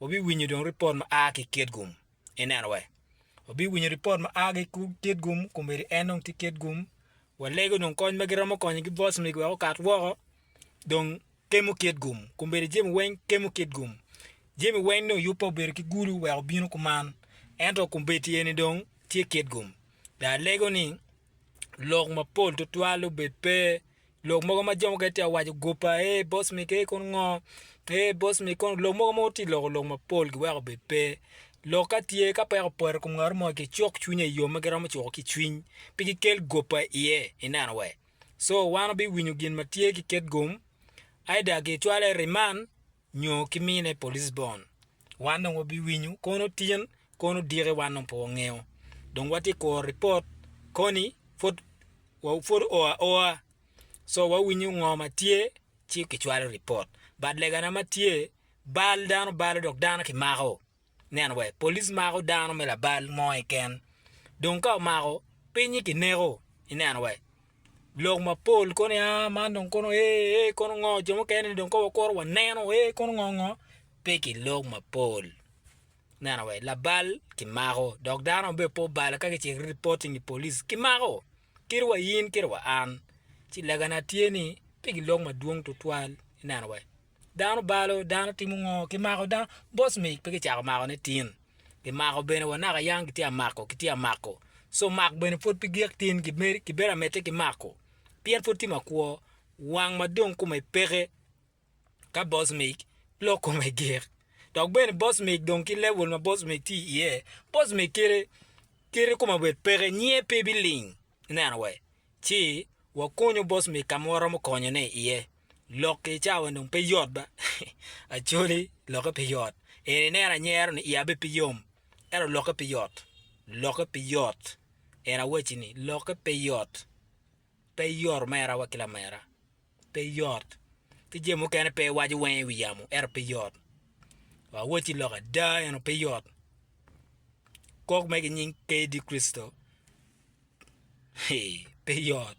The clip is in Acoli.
wabiwinyo dong ripot ma a ki i Kitgum. Ineno wee? Wabiwinyo ripot ma a ki i Kitgum, komedi en dong tye Kitgum. Walego dong kony ma giromo konyo ki Vosmig wek okat woko. Dong kemo Kitgum. Komedi jemi weng kemo Kitgum. Jemi weng dong yubbe obedo ki gulu wek obino kuman. Ento kombeddi eni dong tye Kitgum. Dong alego ni. lok mapol tutwal obed pe lok mogo ma jo mukene tye ka waco goba ee boss me kee kono ngo ee boss me kono lok mogo ma wutye ka loko lok mapol giweko obed pe lok ka tye ka peko opoto i kom ngat mo gicuk cwinye i yo ma giromo cuko ki cwiny pe gikel goba iye ineno wa so wan wabiwinyo gin ma tye ki ket gum either gicwale i riman nyo ki mine pa Lisbon, wan dong wabiwinyo kono tin kono diki wan dong pe wangeyo dong watye kuro report koni pwod pwod oo aoa so wawinyo ngo ma tye ci kicwalo report but legana ma tye bal dano balo dok dano kimako. Nen wek police mako dano me labal mo keken. Dong ka omako, pinyi kineko. Ineno wek lok mapol kono ya man dong kono ee ee kono ngo jo mukene ni dong kong wakuru waneno ee kono ngo ngo pe ki lok mapol. Ineno wek labal kimako dok dano ma bene pe obalo ka kicito reporting i police kimako kit wa in kit wa an. Ci lagana tye ni pe ki lok madwong tutwal ineno wek. Dano balo, dano timo ngo, kimako dano, boss mig pe gicako mako ne tin, kimako bene wa naka yang gitye amako gitye amako, so mak bene pwod pe gik tin gimed kibedo amedde ki mako pien pwod tye makwo, wang ma dong kome peke ka boss mig lok kome gik, dok bene boss mig dong ki level ma boss mig tye iye, boss mig kite kite kome obed peke nyiye pe biling ineno wee Ci wakunyo bos mi ka ma waromo konyone iye. Lok-ki i cawa dong pe yot ba. Acholi, lokke pe yot. En ineno anyero-ni iye abe pe yom, ento lokke pe yot. Lokke pe yot. En awacci ni, lokke pe yot. Pe yot mera wa ki lamera. pe yot, ki jami mukene pe iwaco wenge i wi yamo ento pe yot, wa awot ci lok ada ento pe yot, kok me ki nying kdi Kricito, hee pe yot.